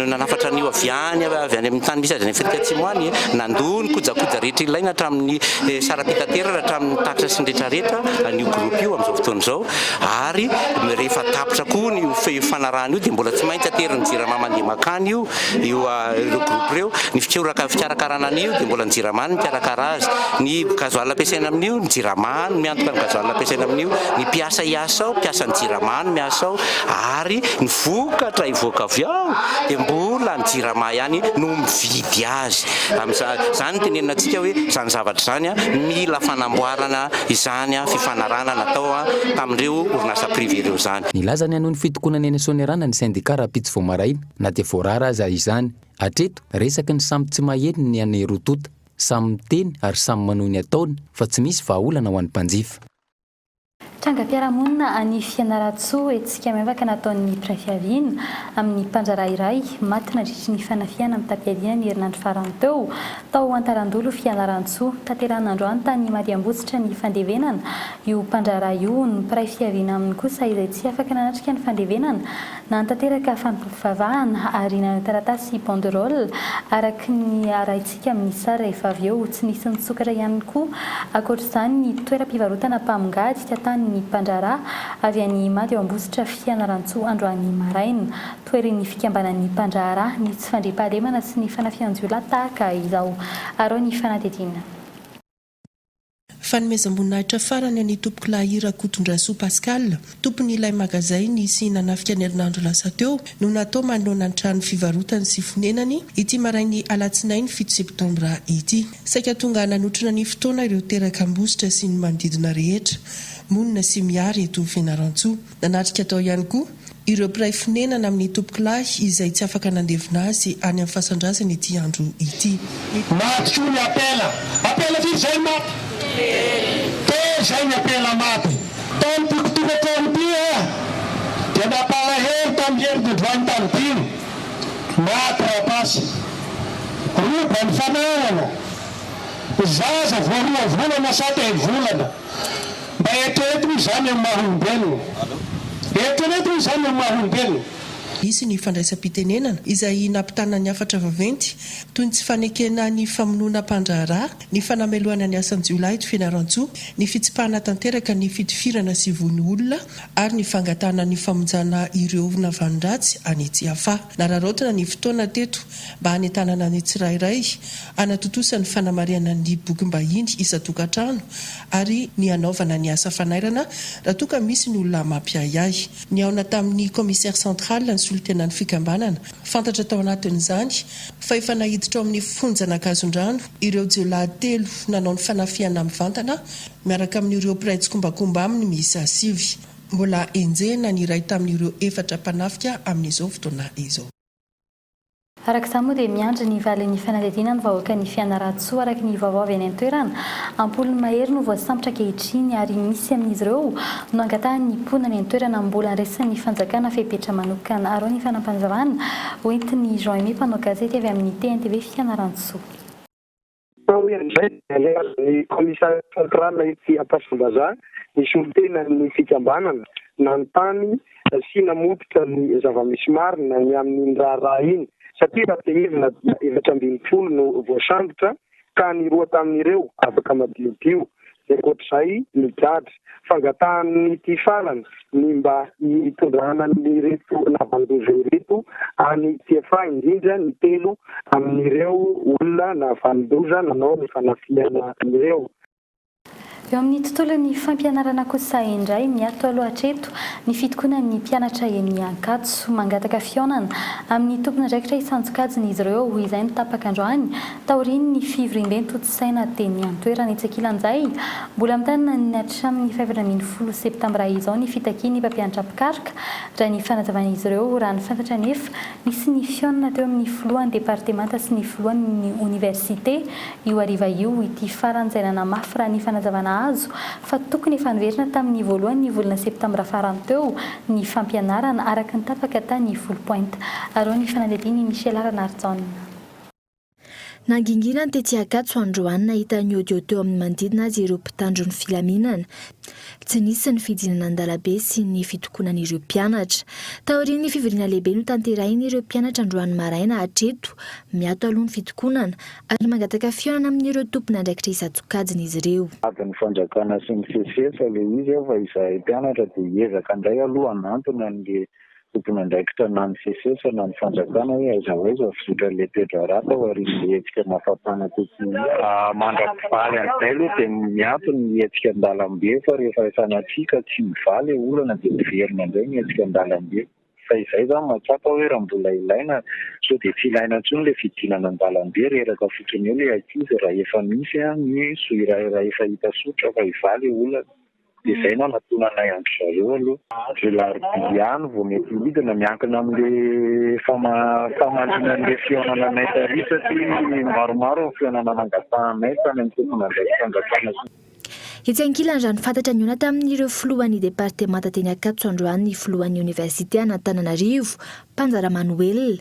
nanafatra an'io avy any avy any amin'ny tany misy azy any Afrika Atsimo any, nandoa ny kojakoja rehetra ilaina hatramin'ny saram-pitaterana hatramin'ny tatitra sy ny rehetra rehetra an'io groupe io amin'izao fotoana izao ary rehefa tapitra koa ny fanarahana io dia mbola tsy maintsy aterin'ny Jirama mandeha makany io io ireo groupe ireo, ny fikoraka fikarakarana an'io dia mbola ny Jirama no mikarakara azy, ny gazoala ampiasaina amin'io ny Jirama. Any no miantoka ny gazoala ampiasaina amin'io, ny mpiasa hiasa ao, mpiasan'ny jirama no miasa ao ary ny vokatra hivoaka avy ao dia mbola ny jirama ihany no mividy azy. Amin'izany, izany no tenenina antsika hoe izany zavatra izany mila fanamboarana izany fifanarahana natao tamin'ireo orinasa privé ireo izany. Nilaza ny hanohy ny fitokonany any Soanierana ny sendika rahampitso vao maraina na dia voarara aza izany. Hatreto, resaky ny samy tsy maheno ny an'i Routouta. Samy miteny ary samy manohy ny ataony fa tsy misy vahaolana ho an'ny mpanjifa. Trangam-piarahamonina any Fianarantsoa, hetsika miavaka nataon'ny mpiray fiaviana amin'ny mpandraharaha iray maty nandritry ny fanafihana mitam-piadiana ny herinandro farany teo, tao Antalandolo Fianarantsoa. Tanterahina androany tany Madiambotsitra ny fandevenana io mpandraharaha io, ny mpiray fiaviana aminy kosa izay tsy afaka nanatrika ny fandevenana, nanatanteraka fampivavahana ary nanao taratasy banderole araka ny Midika amin'ny sary rehefa avy eo tsy nisy nisokatra ihany koa ankoatr'izany ny toeram-pivarotana mpamongady ka tanin'ny mpandraharaha avy any Imady ao Ambositra Fianarantsoa androany maraina. Toherin'ny fikambanan'ny mpandraharaha ny tsy fandriampahalemana sy ny fanafihan-jiolahy tahaka izao. Arao ny fanadihadiana. Fanomezam-boninahitra farany an'i Tompokolahy Rakotondrasoa Pascal, tompon'ilay magazay nisy nanafika ny herinandro lasa teo, no natao manoloana ny trano fivarotany sy fonenany, ity marain'ny alatsinainy fito septambra ity. Saika tonga nanotrona ny fotoana ireo terak'Ambositra sy ny manodidina rehetra, monina sy miary eto Fianarantsoa. Nanatrika tao ihany koa ireo mpiray fonenana amin'ny tompokolahy izay tsy afaka nandevina azy any amin'ny fasan-drazany ity andro ity. Maty koa ny ampela. Ampela firy izay no maty? Telo izay ny ampela maty. Tao amin'ity mpitondra-trano ity aho dia nampalahelo tamin'ny herin-dodroan'ny tany dimy. Maty rapace. Roba ny fananana. Zaza vao roa volana sa telo volana. Mba eritrereto hoy izany amin'ny maha olombelona. Eritrereto hoy izany amin'ny maha olombelona. Hisy ny fandraisam-pitenenana izay nampitana ny hafatra vaventy toy ny tsy fanekena ny famonoana mpandraharaha, ny fanamelohana ny asan-jiolahy eto Fianarantsoa, ny fitsipahana tanteraka ny fitifirana sy vono olona ary ny fangatahana ny famonjana ireo navalondratsy any Tsiafahy. Nararaotina ny fotoana teto mba hanentanana ny tsirairay hanatontosa ny fanamarihana ny bokim-bahiny isan-tokantrano ary ny hanaovana ny asa fanairana raha toa ka misy ny olona mampiahiahy. Nihaona tamin'ny Commissaire central ny solontenan'ny fikambanana. Fantatra tao anatin'izany fa efa naiditra ao amin'ny fonjan'Ankazondrano ireo jiolahy telo nanao ny fanafihana mivantana miaraka amin'ireo mpiray tsikombakomba aminy miisa sivy. Mbola enjehina ny iray tamin'ireo efatra mpanafika amin'izao fotoana izao. Araka izany moa dia miandry ny valin'ny fanadihadiana ny vahoaka ny Fianarantsoa araka ny vaovao avy any an-toerana. Am-polony mahery no voasambotra ankehitriny ary misy amin'izy ireo no angatahan'ny mponina any an-toerana mbola andraisan'ny fanjakana fepetra manokana arao ny fanampanjavana, hoentin'i Jean Aimé mpanao gazety avy amin'ny TNTV Fianarantsoa. Taorian' izay dia nihazo ny Commissariat central etsy Ampasombazaha ny solontenan' ny fikambanana nanontany sy namototra ny zava-misy marina ny amin' iny raharaha iny satria raha tehezina dia efatra ambin'ny folo no voasambotra ka ny roa tamin' ireo afaka madiodio. dia ankoatr'izay migadra. Fangatahan'ity farany ny mba hitondrana an'ireto lavandoza ireto any TFA, indrindra ny telo amin'ireo olona nahavanon-doza nanao ny fanafihana ireo. Eo amin'ny tontolon'ny fampianarana kosa indray, miato aloha hatreto ny fitokonan'ny mpianatra eny Ankatso. Mangataka fihaonana amin'ny tompon'andraikitra hisan-tsokajiny izy ireo, izay no tapaka androany taorian'ny fivoriamben-tojo. saina dia ny an-toerana etsy ankilan'izay. Mbola mitaina ny hatramin'ny fahefatra ambin'ny folo septambra izao ny fitakian'ny mpampianatra mpikaroka raha ny fanazavan'izy ireo. Raha ny fantatra anefa, nisy nifihaonana teo amin'ny filohan'ny departemanta sy ny filohan'ny oniversite io hariva io ity farany izay nanamafy raha ny fanazavana azo fa tokony efa niverina tamin'ny voalohan'ny volana septambra farany teo ny fampianarana araka ny tapaka tany Foulpointe. Aron'ny fanadihadian'i Michela Ranarijaona. Nangingina ny tetsy Ankatso androany nahita ny audio teo amin'ny manodidina azy ireo mpitandro ny filaminana. Tsy nisy ny fidinana an-dalambe sy ny fitokonan'ireo mpianatra. Taorian'ny fivoriana lehibe notanterahin'ireo mpianatra androany maraina hatreto, miato aloha ny fitokonana ary mangataka fihaonana amin'ireo tompon'andraikitra isan-tsokajiny izy ireo. Adin'ny fanjakana sy ny sesisesy ilay izy fa izahay mpianatra dia hiezaka indray aloha hanantona an'ilay Tompon'andraikitra na ny Cses na ny fanjakana hoe aiza ho aiza ny fizotran'i Le Pedro Rat ao aorian'ny hetsika mafampana teto Nia. Mandra-pivaly an'izay aloha dia miato ny hetsika an-dalambe fa rehefa sanatria ka tsy mivaly ilay olana dia miverina indray ny hetsika an-dalambe. Fa izay izany mahatsapa hoe raha mbola ilaina sao dia tsy ilaina intsony ilay fidinana an-dalambe, reraka fotsiny eo ilay ankizy raha efa misy ny soa iray raha efa hita sotra fa hivaly ilay olana. dia izay no hanatona anay andry zareo aloha. Andro alarobia ihany vao mety hidina, miankina amin'ilay famaliana an'ilay fihaonana anay tary satria maromaro ny fihaonana nangatahanay tany amin'ny tomponandraiki-panjakana sy ny. Etsy ankilany, raha ny fantatra nihaona tamin'ireo filohan'ny departemanta teny Ankatso androany ny filohan'ny oniversite an'Antananarivo, mpanjara Manoela,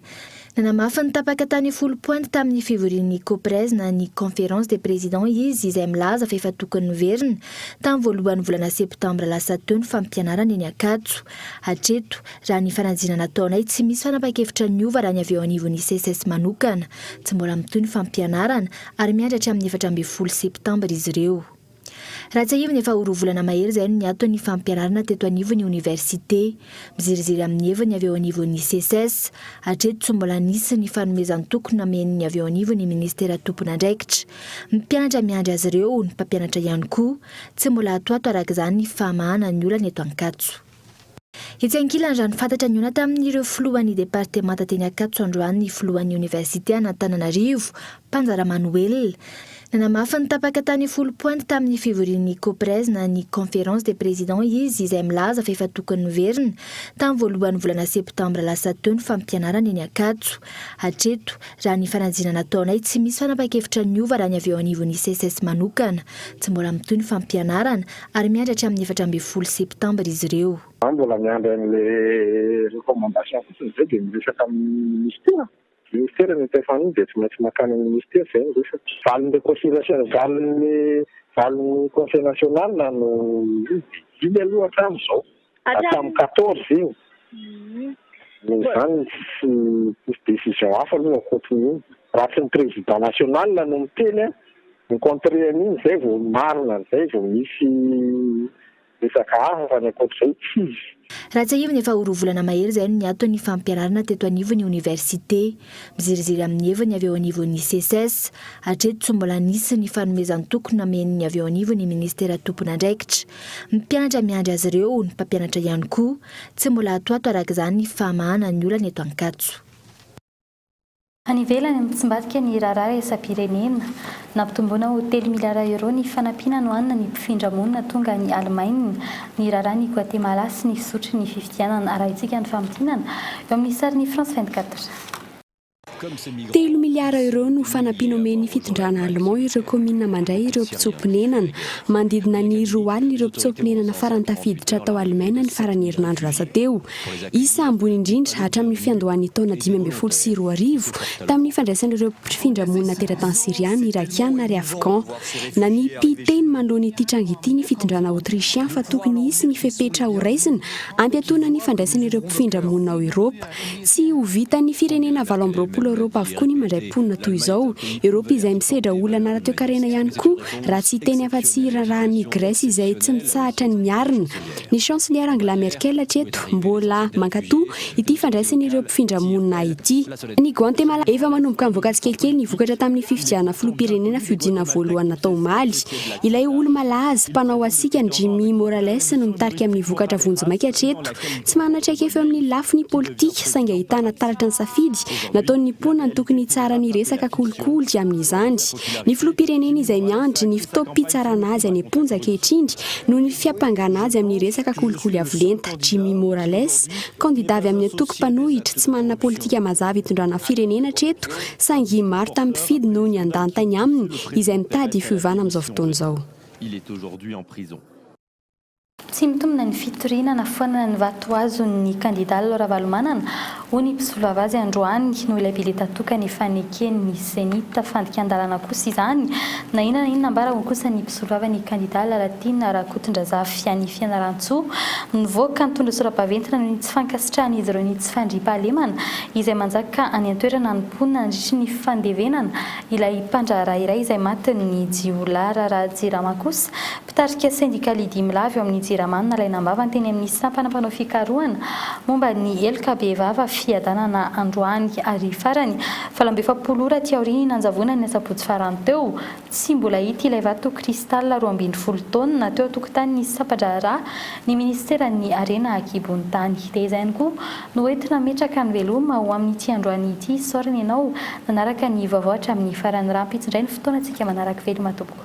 nanamafy ny tapaka tany folo pointy tamin'ny fivorian'ny Coprez na ny Conférence des Présidents izy izay milaza fa efa tokony niverina tamin'ny voalohan'ny volana septambra lasa teo ny fampianarana eny Ankatso. Hatreto, raha ny fanadinana ataonay, tsy misy fanapa-kevitra niova raha ny avy eo anivon'ny Seces manokana. Tsy mbola mitohy ny fampianarana ary miandry hatramin'ny efatra ambin'ny folo septambra izy ireo. Raha tsiahivina efa ho roa volana mahery izay no niato ny fampianarana teto anivon'ny oniversite. Miziriziry amin'ny heviny avy eo anivon'ny Seces. Hatreto tsy mbola nisy ny fanomezan-toky namen'ny avy eo anivon'ny minisitera tompon'andraikitra. Mpianatra miandry azy ireo, ny mpampianatra ihany koa. Tsy mbola atoato araka izany ny fahamahana ny olana eto Ankatso. Etsy ankilany, raha ny fantatra nihaona tamin'ireo filohan'ny departemanta teny Ankatso androany ny filohan'ny oniversite an'Antananarivo, Panja Ramanoelina. Nanamafy ny tapaka tany folo pointy tamin'ny fivorian'ny Coprez na ny Conférence des Présidents izy izay milaza fa efa tokony noverina tamin'ny voalohan'ny volana septambra lasa teo ny fampianarana eny Ankatso. Hatreto, raha ny fanadinana nataonay, tsy misy fanapa-kevitra niova raha ny avy eo anivon'ny Seces manokana. Tsy mbola mitohy ny fampianarana. Ary miandry hatramin'ny efatra ambin'ny folo septambra izy ireo. Za mbola miandry an'le recommandation fotsiny zay de miresaka amin'ny ministera, ministera ny mpf an'iny de tsy maintsy makany amin'ny ministera zay ny resaka. Valin'le conseil national, valin'ny valin'ny conseil national no iny de iny aloha hatramin'izao. Hatramin'ny quatorze io. Mhm. Noho izany tsy hisy décision hafa aloha ankoatrin'io. Raha tsy ny président national no miteny an, mi-contrer an'iny izay vao marina, izay vao misy resaka hafa fa ny ankoatr'izay tsy hisy. Raha tsiahivina efa ho roa volana mahery izay no niato ny fampianarana teto anivon'ny oniversite. Miziriziry amin'ny heviny avy eo anivon'ny Seces. Hatreto tsy mbola nisy ny fanomezan-toky namen'ny avy eo anivon'ny minisitera tompon'andraikitra. Mpianatra miandry azy ireo ny mpampianatra ihany koa. Tsy mbola atoato araka izany ny fahamahana ny olana eto Ankatso. Any ivelany, mitsimbadika ny raharaha iraisam-pirenena. Nampitomboina ho telo miliara euros ny fanampiana nohanina ny mpifindra monina tonga any Alemaina. Niraharaha an'i Goatemalà sy ny fizotry ny fifidianana. Arahintsika ny famintinana eo amin'ny sarin'i France vingt quatre. Telo miliara euros no fanampiana omen'ny fitondrana Allemand ireo kaominina mandray ireo mpitsoa-ponenana. Manodidina ny roa alina ireo mpitsoa-ponenana farany tafiditra tao Alemaina ny faran'ny herinandro lasa teo. isa ambony indrindra hatramin'ny fiandohan'ny taona dimy ambin'ny folo sy roa arivo, tamin'ny fandraisan'ireo mpifindra monina teratany Syriana, Irakiana ary Afghan. Nanipy teny manoloana ity tranga ity ny fitondrana Autrichien fa tokony hisy ny fepetra horaisina hampiatoana ny fandraisan'ireo mpifindra monina ao Eoropa. Tsy ho vitan'ny firenena valo amby roapolo ao Eoropa avokoa ny mandray mponina toy izao. Eoropa izay misedra olana ara-toekarena ihany koa raha tsy hiteny afa-tsy iraharahan'i Grèce izay tsy mitsahatra ny miarina Ny Chancelière Angela Merkel hatreto mbola mankatò ity fandraisan'ireo mpifindra monina ity. Any Guantemala, efa manomboka mivoaka tsikelikely ny vokatra tamin'ny fifidianana filoham-pirenena fihodinana voalohany natao omaly. Ilay olo-malaza mpanao hasikany Jimmy Morales no mitarika amin'ny vokatra vonjimaika hatreto. Tsy manana traikefa eo amin'ny lafiny politika, saingy ahitana taratra ny safidy nataon'ny mponina ny tokony hitsara ny resaka kolikoly amin'izany. Ny filoham-pirenena izay miandry ny fotoam-pitsarana azy any am-ponja ankehitriny noho ny fiampangana azy amin'ny resaka kolikoly avo lenta, Jimmy Morales, kandidà avy amin'ny antoko mpanohitra tsy manana politika mazava hitondrana firenena hatreto saingy maro tamin'ny mpifidy noho ny andantainy aminy izay mitady ny fiovana amin'izao fotoana izao. Tsy mitombina ny fitoriana na foanana ny vato azon'ny kandidà Lalao Ravalomanana Hoy ny mpisolovava azy androany, noho ilay bileta tokana ifaneken' ny Zenith. Fandikan-dalana kosa izany. Na inona na inona ambara hoy kosa ny mpisolovava ny kandida Lalatiana Rakotondrazafy any Fianarantsoa. Nivoaka nitondra sora-baventy naneho ny tsy fankasitrahan'izy ireo ny tsy fandriampahalemana izay manjaka any an-toerana ny mponina nandritry ny fandevenana ilay mpandraharaha iray izay matin'ny jiolahy. Raharaha Jirama kosa Mpitarika sendikaly i Dimy Lahy avy ao amin'ny Jirama no nalaina am-bavany teny amin'ny sampana mpanao fikarohana momba ny heloka bevava fiadanana androany ary farany valo amby efapolo ora aty aorian'ny nanjavonany ny asabotsy farany teo tsy mbola hita ilay vato cristal roa ambin'ny folo taonina teo an-tokotanin'ny sampa-draharaha ny minisiteran'ny harena an-kibon'ny tany dia izay ihany koa no ety nametraka ny veloma ho amin'ity androany ity isaorana ianao nanaraka ny vaovao hatramin'ny farany raha ampitsindray ny fotoana antsika manaraka veloma tompoko.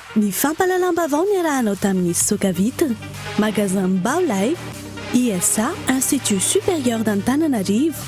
Ny fampahalalam-baovao niarahanao tamin'i Sokavita, Magasin Bao Lay, ISA, Institut Supérieur d'Antananarivo,